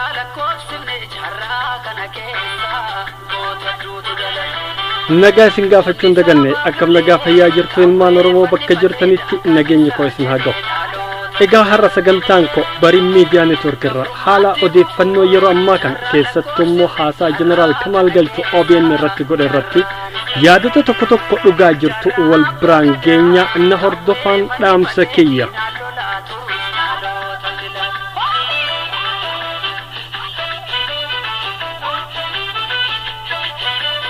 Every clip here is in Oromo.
Yaa lakkoofsifne carraa kana keessa goota hedduutu dhalate. Nagaa isin gaafachuu hin daganne akkam nagaa fayyaa jirtu ilmaan Oromoo bakka jirtanitti nageenyi koo isin haa gahu. Egaa har'a sagantaan koo bariin miidiyaa network irraa haala odeeffannoo yeroo ammaa kana keessattuu immoo haasaa jeneraal Kamaal Galchuu OBN irratti godhe irratti yaadota tokko tokko dhugaa jirtu wal biraan geenya na hordofaan dhaamsa kiyya.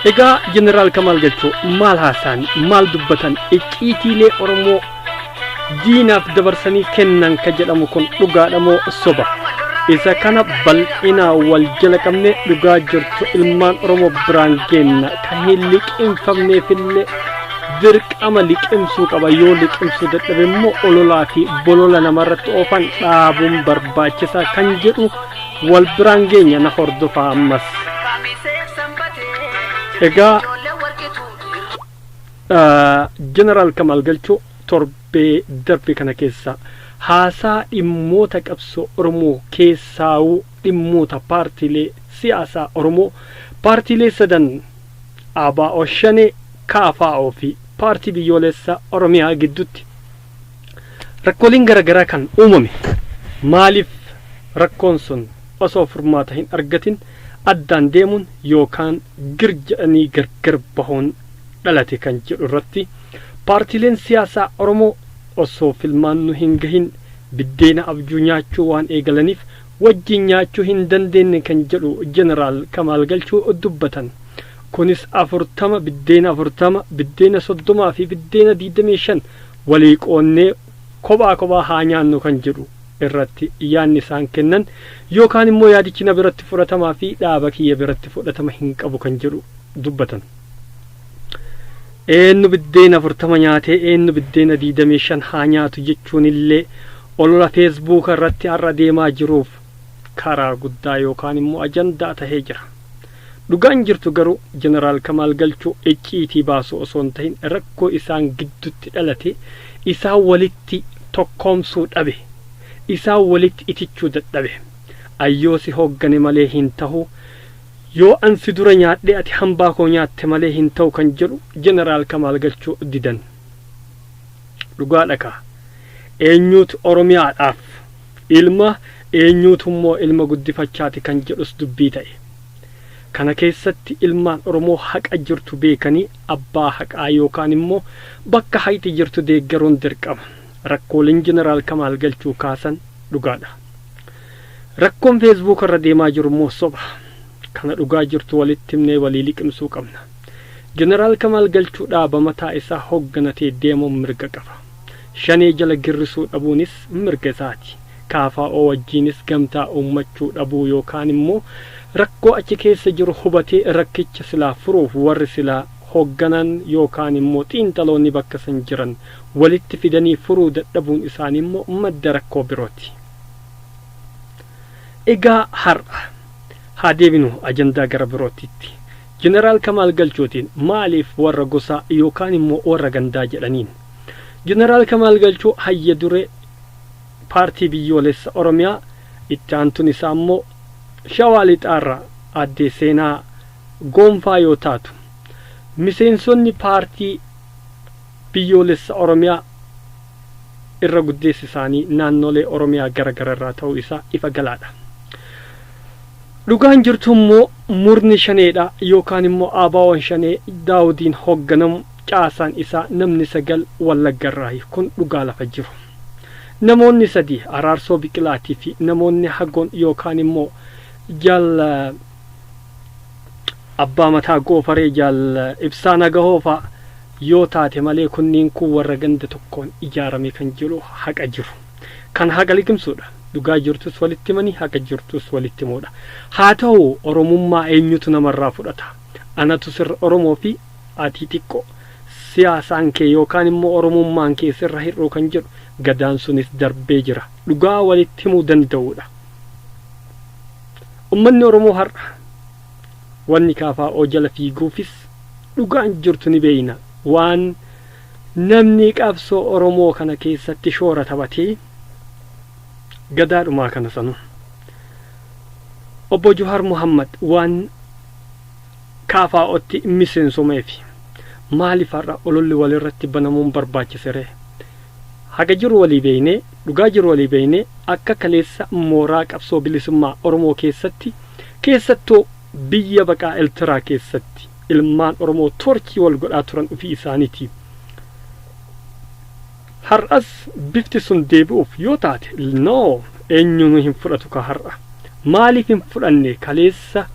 Egaa Jeneraal Kamaal Galchoo maal haasaan maal dubbatan icciitiilee Oromoo diinaaf dabarsanii kennan ka jedhamu kun dhugaadha moo soba? Isa kana bal'inaa wal jala qabnee dhugaa jirtu ilmaan Oromoo biraan geenna ka hin liqinfamneefillee dirqama liqimsuu qaba yoo liqimsuu dadhabe immoo ololaa fi bolola namarratti oofan dhaabuun barbaachisaa kan jedhu wal biraan geenya na hordofaa ammas egaa jeneraal kamaal galchuu torbee darbe kana keessa haasaa dhimmoota qabsoo oromoo keessaawuu dhimmoota paartiilee siyaasaa oromoo paartiilee sadan ABO-Shanee, KFO fi Paartii Biyyooleessa Oromiyaa gidduutti rakkooleen garagaraa kan uumame maaliif rakkoon sun osoo furmaata hin argatin addaan deemuun yookaan gir jedhanii gargar bahuun dhalate kan jedhu irratti paartiileen siyaasaa Oromoo osoo filmaannu hin gahin biddeena abjuu nyaachuu waan eegalaniif wajjin nyaachuu hin dandeenne kan jedhu Jeneraal Kamaal Galchuu dubbatan. Kunis 40, biddeena 40, biddeena 30 fi biddeena 25 walii qoodnee kophaa kophaa haa nyaannu kan jedhu irratti yaadni isaan kennan yookaan immoo yaadichi na biratti fudhatamaa fi dhaaba kiyya biratti fudhatama hin qabu kan jedhu dubbatan. Eenyu biddeena 40 nyaatee eenyu biddeena 25 haa nyaatu jechuun illee olola feesbuuka irratti har'a deemaa jiruuf karaa guddaa yookaan immoo ajandaa tahee jira. Dhugaan jirtu garuu Jeneraal Kamaal Galchuu icciitii baasuu osoo hin tahin rakkoo isaan giddutti dhalate isaan walitti tokkoomsuu dhabe. Isaan walitti itichuu dadhabe. Ayyoo si hooggane malee hin tahu. Yoo an si dura nyaadhee ati hambaa koo nyaatte malee hin ta'u kan jedhu Jeneraal Kamaal Galchuu didan. Dhugaadha kaa. Eenyuutu Oromiyaadhaaf ilma, eenyuutu immoo ilma guddifachaati kan jedhus dubbii ta'e. Kana keessatti ilmaan Oromoo haqa jirtu beekanii abbaa haqaa yookaan immoo bakka haqi jirtu deeggaruun dirqama. Rakkooleen Jeneraal Kamaal Galchuu kaasan dhugaadha. Rakkoon Facebook irra deemaa jiru immoo soba. Kana dhugaa jirtu walitti himnee walii liqimsuu qabna. Jeneraal Kamaal Galchuu dhaaba mataa isaa hoogganatee deemuun mirga qaba. Shanee jala girrisuu dhabuunis mirga isaati. KFO wajjiinis gamtaa uummachuu dhabuu yookaan immoo rakkoo achi keessa jiru hubatee rakkicha silaa furuuf warri silaa hoogganan yookaan immoo xiinxaloonni bakka san jiran walitti fidanii furuu dadhabuun isaanii immoo madda rakkoo birooti. Egaa har'a haa deebinu ajandaa gara birootitti. Jeneraal Kamaal Galchootiin maaliif warra gosaa yookaan immoo warra gandaa jedhaniin? Jeneraal Kamaal Galchoo hayya duree paartii biyyoolessa Oromiyaa itti aantuun isaa immoo Shawaa Lixaarraa addee Seenaa Goonfaa yoo taatu miseensonni paartii Biyyoolessa Oromiyaa irra guddeessi isaanii naannolee Oromiyaa gara gara irraa ta'uu isaa ifa galaa dha. Dhugaan jirtu immoo murni Shanee dha yookaan immoo ABOn Shanee Daawudiin hoogganamu caasaan isaa namni 9 Wallagga irraayi. Kun dhugaa lafa jiru. Namoonni sadii Araarsoo Biqilaatii fi namoonni hagoon yookaan immoo Jaal. Abbaa Mataa Goofaree Jaal Ibsaa Nagahoo fa'a yoo taate malee kunniin kun warra ganda tokkoon ijaarame kan jedhu haqa jiru. Kan haqa liqimsuudha. Dhugaa jirtus walitti himanii haqa jirtus walitti himuudha. Haa tahu Oromummaa eenyutu namarraa fudhata? Anatu sirra Oromoo fi ati xiqqoo. Siyaasaan kee yookaan immoo Oromummaan kee sirra hir'uu kan jedhu Gadaan sunis darbee jira. Dhugaa walitti himuu danda'uudha. Ummanni Oromoo har'a wanni kfo jala fiiguufis dhugaan jirtu ni beeyna. Waan namni qabsoo Oromoo kana keessatti shoora taphate Gadaadhumaa kana sanuu. Obbo Juhaar Muhammad waan KFOtti miseensomeefi maaliif har'a ololli walirratti banamuun barbaachisere? Haga jiru walii beeynee. Dhugaa jiru walii beeynee akka kaleessa mooraa qabsoo bilisummaa Oromoo keessatti keessattuu biyya baqaa Eltiraa keessatti ilmaan Oromoo toorchii wal godhaa turan ufii isaanitii. Har'as bifti sun deebi'uuf yoo taate no eenyuunuu hin fudhatu kaa har'a. Maaliif hin fudhanne kaleessa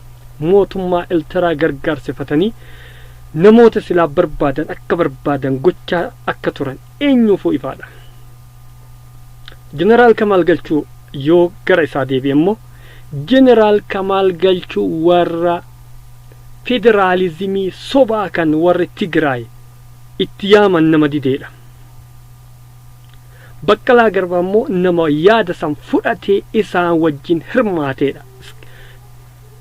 mootummaa Eltiraa gargaarsifatanii namoota silaa barbaadan akka barbaadan gochaa akka turan eenyuufuu ifaa dha. Jeneraal Kamaal Galchuu yoo gara isaa deebi'e immoo Jeneraal Kamaal Galchuu warra federaalizimii sobaa kan warri Tigraay itti yaaman nama didee dha. Baqqalaa Garbaa immoo nama yaada san fudhatee isaan wajjin hirmaatee dha.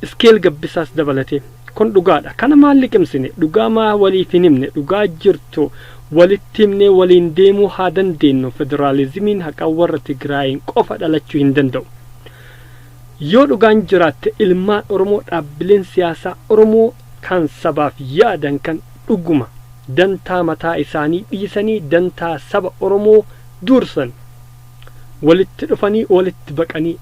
Iske'el Gabbisaas dabalatee. Kun dhugaadha. Kana maal liqimsine? Dhugaa maa waliif hin himne? Dhugaa jirtu walitti himnee waliin deemuu haa dandeennu. Federaalizimiin haqaa warra Tigraayiin qofa dhalachuu hin danda'u. Yoo dhugaan jiraatte ilmaan Oromoo dhaabbileen siyaasaa Oromoo kan sabaaf yaadan kan dhuguma dantaa mataa isaanii dhiisanii dantaa saba Oromoo duursan walitti dhufanii walitti baqanii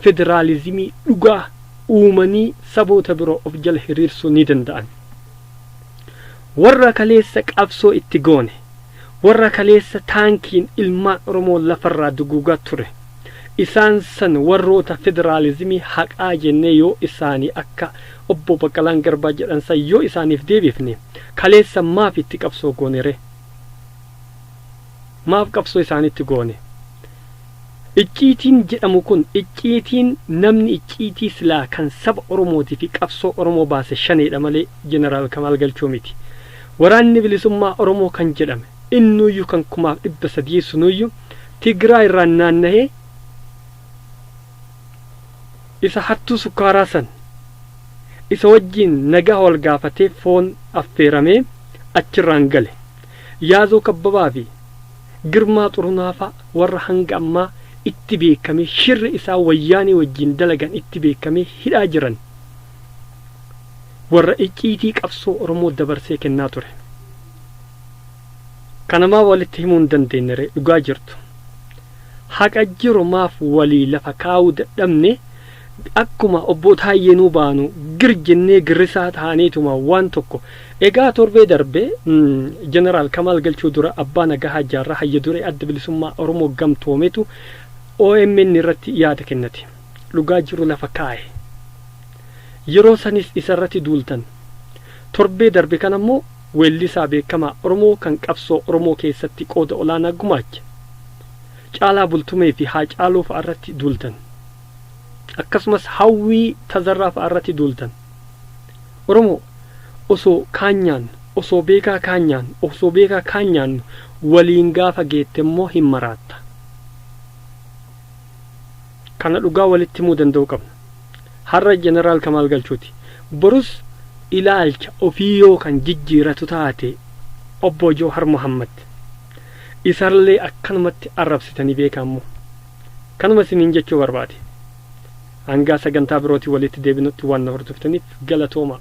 federaalizimii dhugaa uumanii saboota biroo of jala hiriirsuu ni danda'an. Warra kaleessa qabsoo itti goone, warra kaleessa taankiin ilmaan Oromoo lafarraa duguugaa ture, isaan san warroota federaalizimii haqaa jennee yoo isaanii akka Obbo Baqqalaan Garbaa jedhan san yoo isaaniif deebifne, kaleessa maaf itti qabsoo goone ree? Maaf qabsoo isaanitti goone? Icciitiin jedhamu kun icciitiin namni icciitii silaa kan saba Oromootii fi qabsoo Oromoo baase Shaneedha malee Jeneraal Kamaal Galchuu miti. Waraanni Bilisummaa Oromoo kan jedhame innuuyyu kan kumaaf dhibba sadii sunuuyyu Tigraay irraan naannahee isa hattuu sukkaaraa san isa wajjiin nagaa wal gaafatee foon affeeramee achirraan gale. Yaazoo Kabbabaa fi Girmaa Xurunaa faa warra hanga ammaa itti beekamee shirri isaan Wayyaanee wajjiin dalagan itti beekamee hidhaa jiran warra icciitii qabsoo Oromoo dabarsee kennaa ture. Kana maaf walitti himuu hin dandeenye ree dhugaa jirtu? Haqa jiru maaf walii lafa kaa'uu dadhabne? Akkuma Obboo Taayyeenuu baanu gir jennee girrisaa taaneetuma waan tokko. Egaa torbee darbe Jeneraal Kamaal Galchuu dura Abbaa Nagahaa Jaarraa Hayya Duree Adda Bilisummaa Oromoo Gamtoometu omn irratti yaada kennate. Dhugaa jiru lafa kaahe. Yeroo sanis isarratti duultan. Torbee darbe kana immoo weellisaa beekamaa Oromoo kan qabsoo Oromoo keessatti qooda olaanaa gumaache Caalaa Bultumeefi Haacaaluu fa'arratti duultan. akkasumas hawwii tazarraa fa'a irratti duultan. Oromoo osoo kaan nyaannu, osoo beekaa kaan nyaannu, osoo beekaa kaan nyaannu waliin gaafa geette immoo hin maraatta. Kana dhugaa walitti himuu danda'uu qabna. Har'a Jeneraal Kamaal Galchuuti. Borus ilaalcha ofii yoo kan jijjiiratu taate Obbo Jawhar Mohammed. Isarlee akkanumatti arrabsitanii beekaa immoo. Kanuma isiniin jechuu barbaade. Hangaa sagantaa birootiin waliitti deebinutti waan na hordoftaniif galatoomaa.